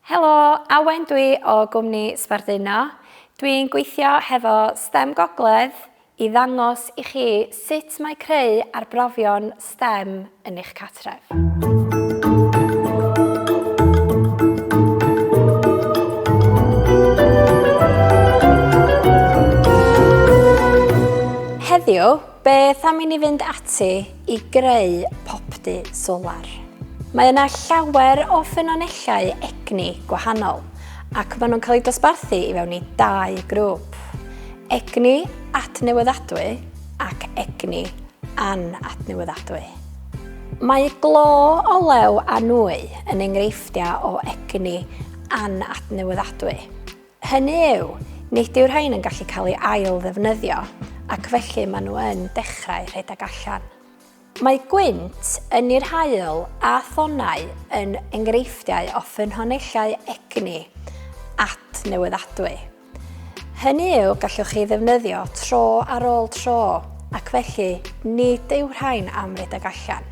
Helo, Awen dwi o gwmni Sbarduno. Dwi'n gweithio hefo stem Gogledd i ddangos i chi sut mae creu arbrofion stem yn eich cartref. Heddiw, Beth am i ni fynd ati i greu popty solar? Mae yna llawer o ffynonellau egni gwahanol ac maen nhw'n cael eu dosbarthu i fewn i dau grŵp, egni adnewyddadwy ac egni anadnewyddadwy. Mae glo olew a nwy yn enghreifftiau o egni anadnewyddadwy. Hynny yw, nid yw rhain yn gallu cael ei ail-ddefnyddio, ac felly maen nhw yn dechrau rhedeg allan. Mae gwynt, ynni'r haul a thonnau yn enghreifftiau o ffynhonellau egni adnewyddadwy. Hynny yw, gallwch chi ddefnyddio tro ar ôl tro, ac felly nid yw rhain am redeg allan.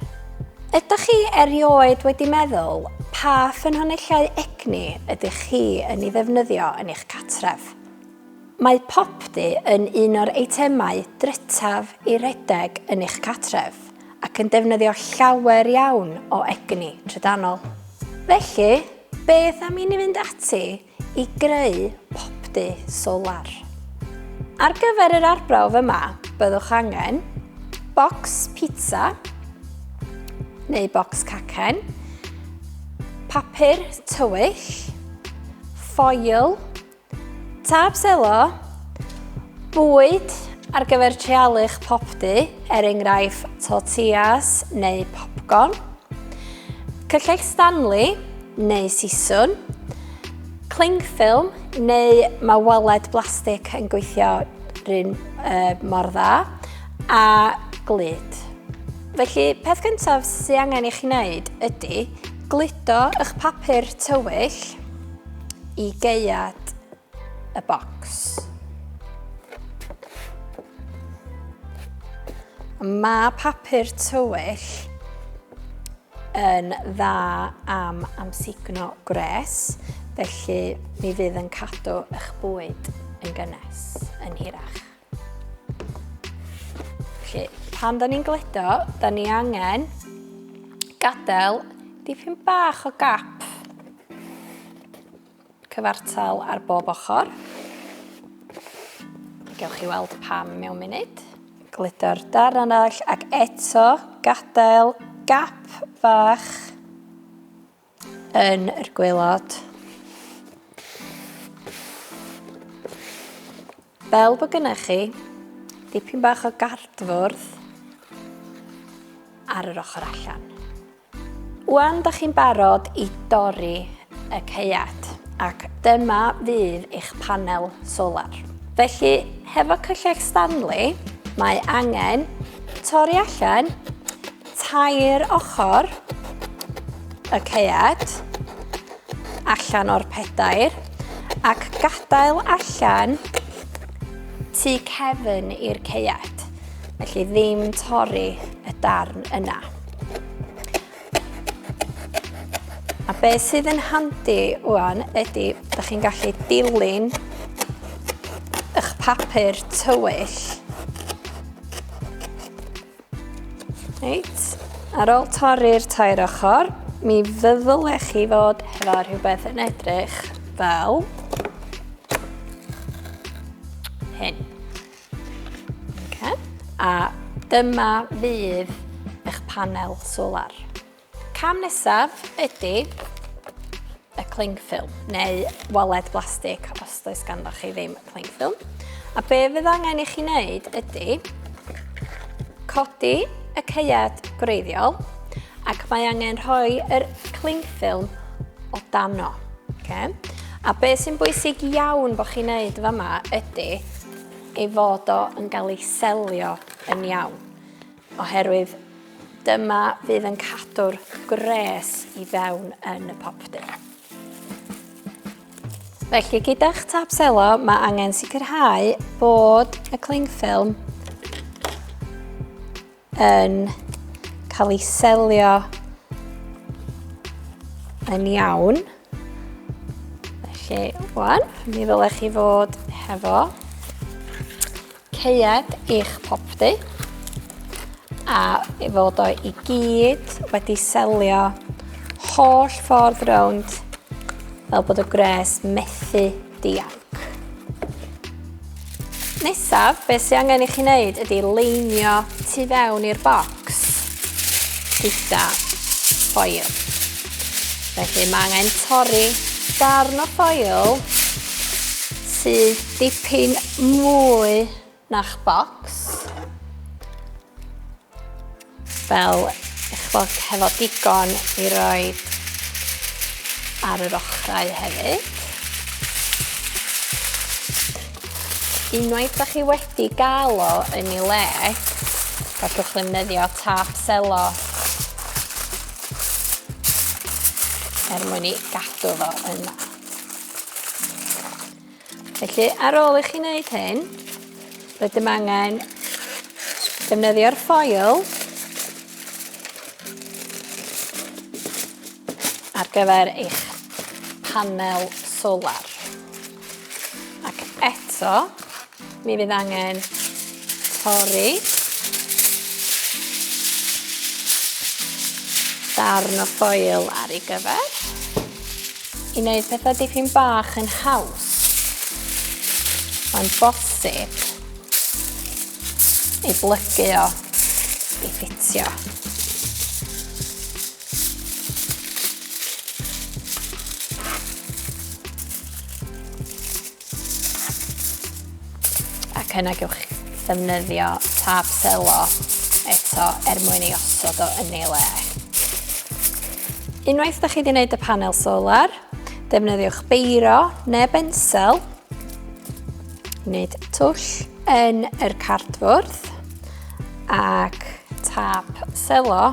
Ydych chi erioed wedi meddwl pa ffynhonellau egni ydych chi yn ei ddefnyddio yn eich cartref? Mae popty yn un o'r eitemau drutaf i redeg yn eich cartref ac yn defnyddio llawer iawn o egni trydanol. Felly, beth am i ni fynd ati i greu popty solar? Ar gyfer yr arbrawf yma, byddwch angen bocs pizza neu bocs cacen, Papur tywyll, ffoil, tâp selo, bwyd ar gyfer treialu'ch popty, er enghraifft tortillas neu popcorn, cyllell Stanley neu siswn, clingffilm neu mae waled blastig yn gweithio rhywun uh, mor dda, a glyd. Felly, peth gyntaf sy'n angen i chi wneud ydy gludo eich papur tywyll i geiad y bocs. Mae papur tywyll yn dda am amsugno gwres, felly mi fydd yn cadw eich bwyd yn gynnes, yn hirach. Felly, pan da ni'n gledo, da ni angen gadael dipyn bach o gap cyfartal ar bob ochr. Gewch chi weld pam mewn munud. Gledo'r darn arall ac eto gadael gap fach yn yr gwaelod. Fel bod gennych chi dipyn bach o gardfwrdd ar yr ochr allan. Wan, da chi'n barod i dorri y caead ac dyma fydd eich panel solar. Felly, hefo cyllell Stanley, mae angen torri allan tair ochr y caead allan o'r pedair ac gadael allan tu cefn i'r caead. Felly ddim torri y darn yna. A be sydd yn handi wwan ydy, ydych chi'n gallu dilyn eich papur tywyll Reit, ar ôl torri'r tair ochr, mi fyddle chi fod hefo rhywbeth yn edrych fel hyn. Okay. A dyma fydd eich panel solar. Cam nesaf ydy y cling film, neu waled blastig os does ganddo chi ddim cling film. A be fydd angen i chi wneud ydy codi y ceiad gwreiddiol ac mae angen rhoi yr cling film o dano. Okay? A be sy'n bwysig iawn bod chi'n wneud yma ydy ei fod o yn cael ei selio yn iawn. Oherwydd dyma fydd yn cadw'r gwres i fewn yn y popdy. Felly gyda'ch tap selo mae angen sicrhau bod y cling ffilm yn cael ei selio yn iawn. Felly, wan, mi ddylech chi fod hefo Ceuad eich popty a i fod o i gyd wedi selio holl ffordd rownd fel bod y gwres methu dianc. Nesaf, beth sy'n angen i chi wneud ydy leinio tu fewn i'r bocs. gyda ffoil. Felly mae angen torri darn o ffoil sydd dipyn mwy na'ch bocs. Fel eich bod hefo digon i roi ar yr ochrau hefyd. Unwaith da chi wedi gael o yn ei le, gallwch ddefnyddio tap selo er mwyn ei gadw fo yna. Felly, ar ôl i chi wneud hyn, rydym angen defnyddio'r ffoil ar gyfer eich panel solar. Ac eto, mi fydd angen torri darn o ffoil ar ei gyfer i wneud pethau dipyn bach yn haws. Mae'n bosib ei blygu o i ffitio. Ac yna gewch ddefnyddio tab selo eto er mwyn ei osod o yn ei le. Unwaith da chi wedi gwneud y panel solar, defnyddiwch beiro neu bensel, wneud twll yn yr cardfwrdd ac tap selo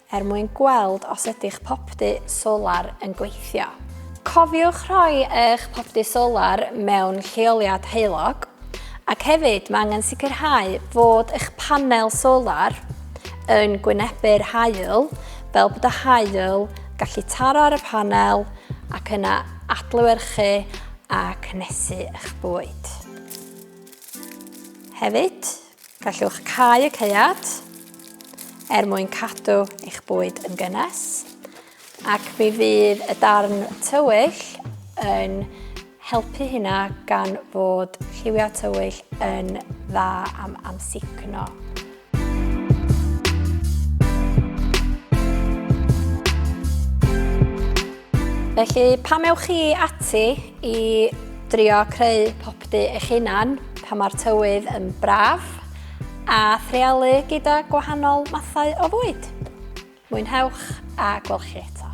er mwyn gweld os ydy'ch popty solar yn gweithio. Cofiwch rhoi eich popty solar mewn lleoliad heulog, ac hefyd mae angen sicrhau fod eich panel solar yn gwynebu'r haul fel bod y haul gallu taro ar y panel ac yna adlewyrchu a cnesu eich bwyd. Hefyd, Gallwch cau y caead er mwyn cadw eich bwyd yn gynnes ac mi fydd y darn tywyll yn helpu hynna gan fod lliwiau tywyll yn dda am amsugno. Felly, pam ewch chi ati i drio creu Bdu eich hunan pan mae'r tywydd yn braf a threalu gyda gwahanol mathau o fwyd. Mwynhewch a gwelch chi eto.